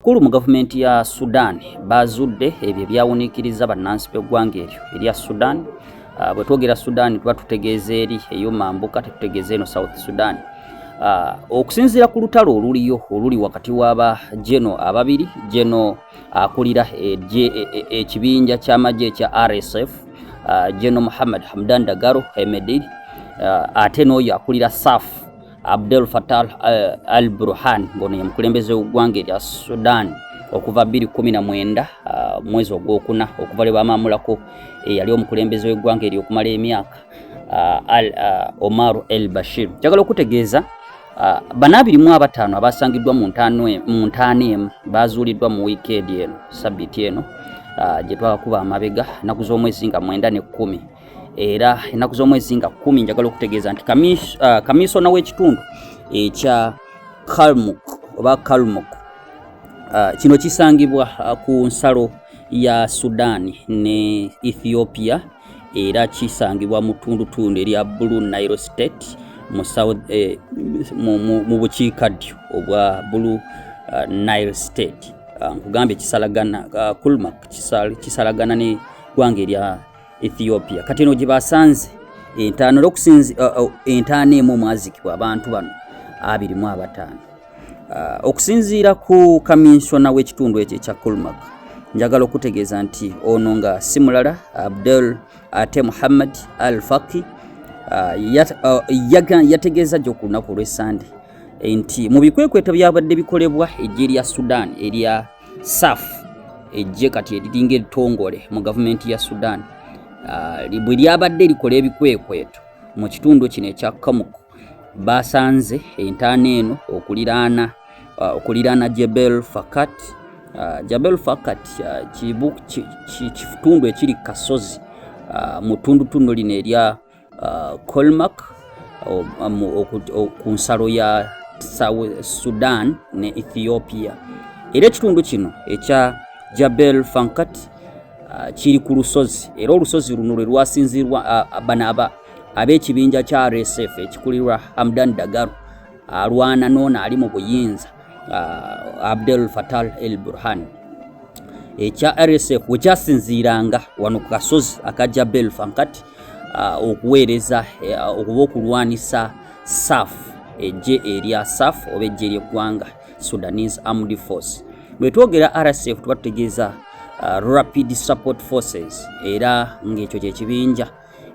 Kulu mu gavumenti ya Sudan bazudde ebyo ebyawuniikiriza bannansi b'eggwanga eryo erya Sudan. Uh, bwe twogera Sudan tuba tutegeeza eri eyo mambuka, tetutegeeza eno South Sudan. Uh, okusinziira ku lutalo oluliyo oluli wakati w'aba geno ababiri geno akulira e, e, e, ekibinja ky'amagye ekya RSF uh, geno Muhammad Hamdan Dagalo Hemedti uh, ate n'oyo akulira SAF Abdel Fattah eh, al-Burhan ngono yemukulembeze w'eggwanga erya Sudan okuva 2019 ah, mwezi ogwokuna okuva lwe bamaamulako eyali eh, omukulembeze w'eggwanga eryo okumala emyaka ah, ah, Omar el Bashir. Njagala okutegeeza bana abiri mu abataano abaasangiddwa mu ntaana emu baazuuliddwa mu wiikeedi eno sabiiti eno gye twabakuba amabega nnaku z'omwezi nga mwenda n'ekkumi. era ennaku z'omwezi nga kkumi njagala okutegeeza nti uh, kamisona w'ekitundu ekya kalmuk oba kalmuk uh, kino kisangibwa uh, ku nsalo ya sudan ne ethiopia era kisangibwa mu tundutundu erya blue nile state mu eh, bukiikaddyo obwa blue uh, nile state uh, nkugambye kisalagana uh, kulmak kisalagana ne gwanga erya Ethiopia kati eno gyebasanze entaano lokusinzi uh, uh, entaano emu omwazikibwa abantu bano abiri mu abataano uh, okusinziira ku kaminsona w'ekitundu ekyo ekya Kulmak njagala okutegeeza nti ono nga si mulala Abdel ate Muhammad Al Faki yategeeza gyo ku lunaku olw'essande nti mu bikwekweto byabadde bikolebwa eggye lya Sudan erya saf ejje kati eriringa eritongole mu gavumenti ya sudan ah, bwe lyabadde likola ebikwekweto mu kitundu kino ekya kamuk basanze entaana eno okuliraana ah, okuliraana jebel fakat ah, jabel fakat kitundu ekiri kasozi mu tundutundu lino erya uh, Colmac uh, um, uh, ku nsalo ya South Sudan ne Ethiopia era ekitundu kino ekya Jabel Fankat uh, kiri ku lusozi era olusozi luno lwe lwasinzirwa uh, bano aba ab'ekibinja kya RSF ekikulirwa Hamdan Dagalo alwana noona ali mu buyinza uh, Abdel Fattah el Burhan ekya RSF wekyasinziiranga wano ku kasozi aka Jabel Fankat uh, okuweereza uh, okuba okulwanisa saf ejje erya saf oba ejje eryeggwanga sudanese armed force bwetwogera rsf tuba tutegeeza uh, rapid support forces era ngaekyo kyekibinja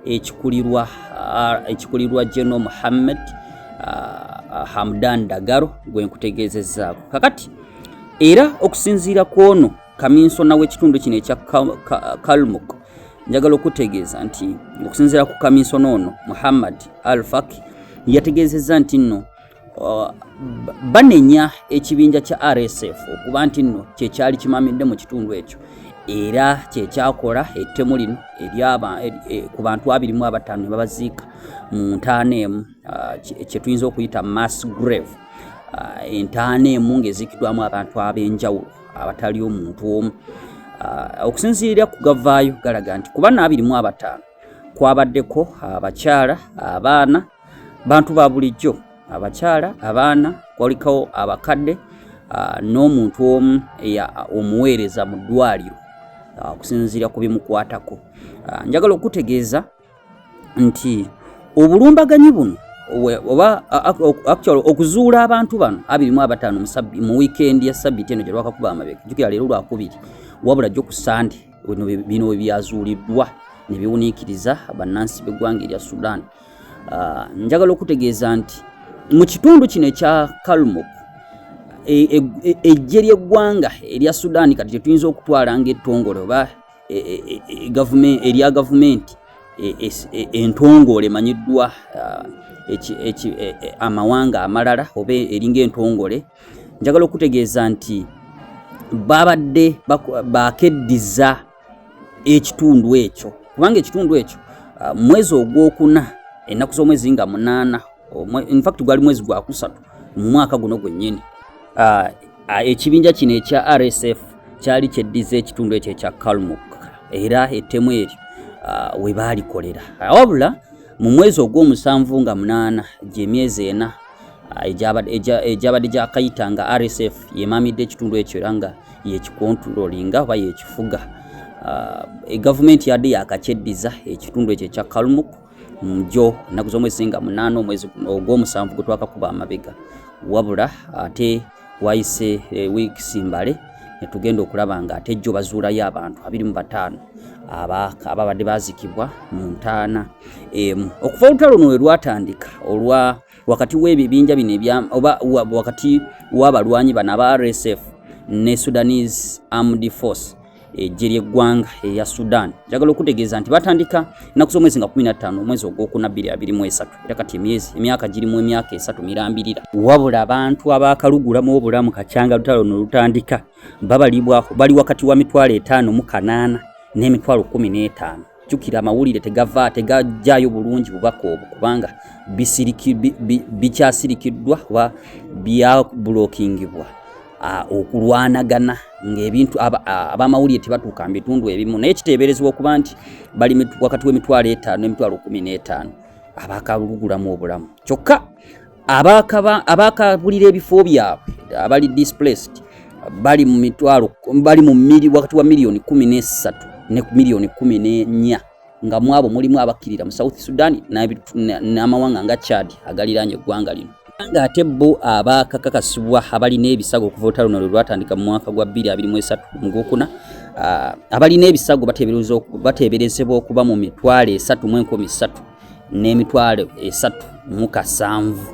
ekikulirwa uh, ekikulirwa general muhammad uh, hamdan dagaro gwenkutegeezezaako kakati era okusinziira ku ono kaminsona w'ekitundu kino ekya kalmuk njagala okutegeeza nti okusinziira ku kaminsona ono muhammad al faki yategeezezza nti nno uh, banenya ekibinja kya rsf okuba nti nno kyekyali kimamidde mu kitundu ekyo era kyekyakola ettemu lino e, ku bantu abiri mu abataano ne babaziika mu ntaana emu uh, kyetuyinza okuyita mass grave uh, entaana emu ng'eziikiddwamu abantu ab'enjawulo abatali omuntu omu ah, okusinziira ku gavaayo galaga nti kuba naabirimu abataano kwabaddeko abakyala abaana bantu ba bulijjo abakyala abaana kwalikawo abakadde ah, n'omuntu omu omuweereza mu ddwaliro okusinziira ku bimukwatako njagala okutegeeza nti obulumbaganyi buno oba actual okuzuula abantu bano abirimu abataano mu wiikendi ya sabiti eno gye lwakakuba amabega jukira leero lwakubiri wabula jjo ku sande bino webyazuuliddwa ne biwuniikiriza bannansi b'eggwanga erya sudan ah, njagala okutegeeza nti mu kitundu kino ekya kalmuk ejje e, e, ly'eggwanga erya sudan kati kyetuyinza okutwala ngaettongole oba e, e, e, erya gavumenti entongole emanyiddwa amawanga amalala oba eringa entongole njagala okutegeeza nti babadde bakeddiza ekitundu ekyo kubanga ekitundu ekyo ah, mwezi ogwokuna ennaku z'omwezi nga munaana infact gwali mwezi gwakusatu mu mwaka guno gwennyini ah, Ekibinja kino ekya RSF kyali kyeddiza ekitundu ekyo ekya Kalmuk era ettemu eryo we baalikolera. Wabula mu mwezi ogw'omusanvu nga munaana gy'emyezi ena egyabadde gyakayita nga RSF yemamidde ekitundu ekyo era nga yekikontulolinga oba yekifuga. Egavumenti yadde yakakyeddiza ekitundu ekyo ekya Kalmuk. njo ennaku z'omwezi nga munaana omwezi ogw'omusanvu gwe twakakuba amabega wabula ate wayise eh, wiikisi mbale ne tugenda okulaba nga ate jjo bazuulayo abantu abiri mu bataano ababadde bazikibwa mu ntaana emu okuva olutalo luno we lwatandika olwa wakati w'ebibinja bino oba wakati w'abalwanyi bano aba rsf ne sudanese armed force eggye ly'eggwanga eya Sudan njagala okutegeeza nti batandika ennaku z'omwezi nga 15 omwezi ogwokuna 2023 era kati emyezi emyaka girimu emyaka esatu mirambirira wabula abantu abaakalugulamu obulamu kakyanga lutalo no lutandika babalibwako bali wakati wa mitwalo etaano mu kanaana n'emitwalo kumi n'etaano jukira amawulire tegava tegajjayo bulungi bubaka obwo kubanga bikyasirikiddwa kuba byabulokingibwa okulwanagana ngaebintu abamawulire tebatuuka mu bitundu ebimu naye kiteeberezebwa okuba nti bali wakati w'emitwalo etaano n'emitwalo kumi n'etaano abaakalugulamu obulamu kyokka abaakabulira ebifo byabwe abali displaced bali mu mitwalo bali mu mili wakati wa miliyoni kumi n'essatu ne miliyoni kumi n'ennya nga mwabo mulimu abakkirira mu south sudan n'amawanga nga chad agaliraanye eggwanga lino nga ate bo abaakakakasibwa abalina ebisago okuva olutalo luno lwe lwatandika mu mwaka gwa 2023 mu gwokuna abalina ebisago bateeberezebwa okuba mu mitwalo esatu mu enkumi ssatu n'emitwalo esatu mu kasanvu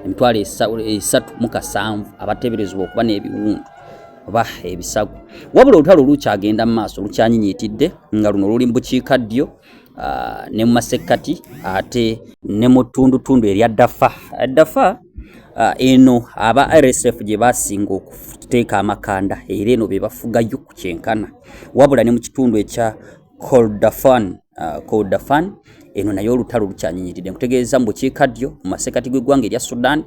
emitwalo esatu mu kasanvu abateeberezebwa okuba n'ebiwundu oba ebisago wabula olutalo lukyagenda mu maaso lukyanyinyiitidde nga luno luli mu bukiika ddyo ah, ne mu masekkati ate ne mu ttundutundu erya dafa dafa ah, eno aba rsf gye basinga okuteeka amakanda era eno be bafugayo ku kyenkana wabula ne mu kitundu ekya Kordofan uh, Kordofan eno nayo olutalo lukyanyinyiridde nkutegeeza mu bukiika ddyo mu masekati gw'eggwanga erya Sudan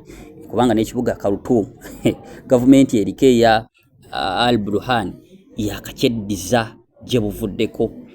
kubanga n'ekibuga Khartoum gavumenti eriko eya uh, Al Burhan yakakyeddiza gye buvuddeko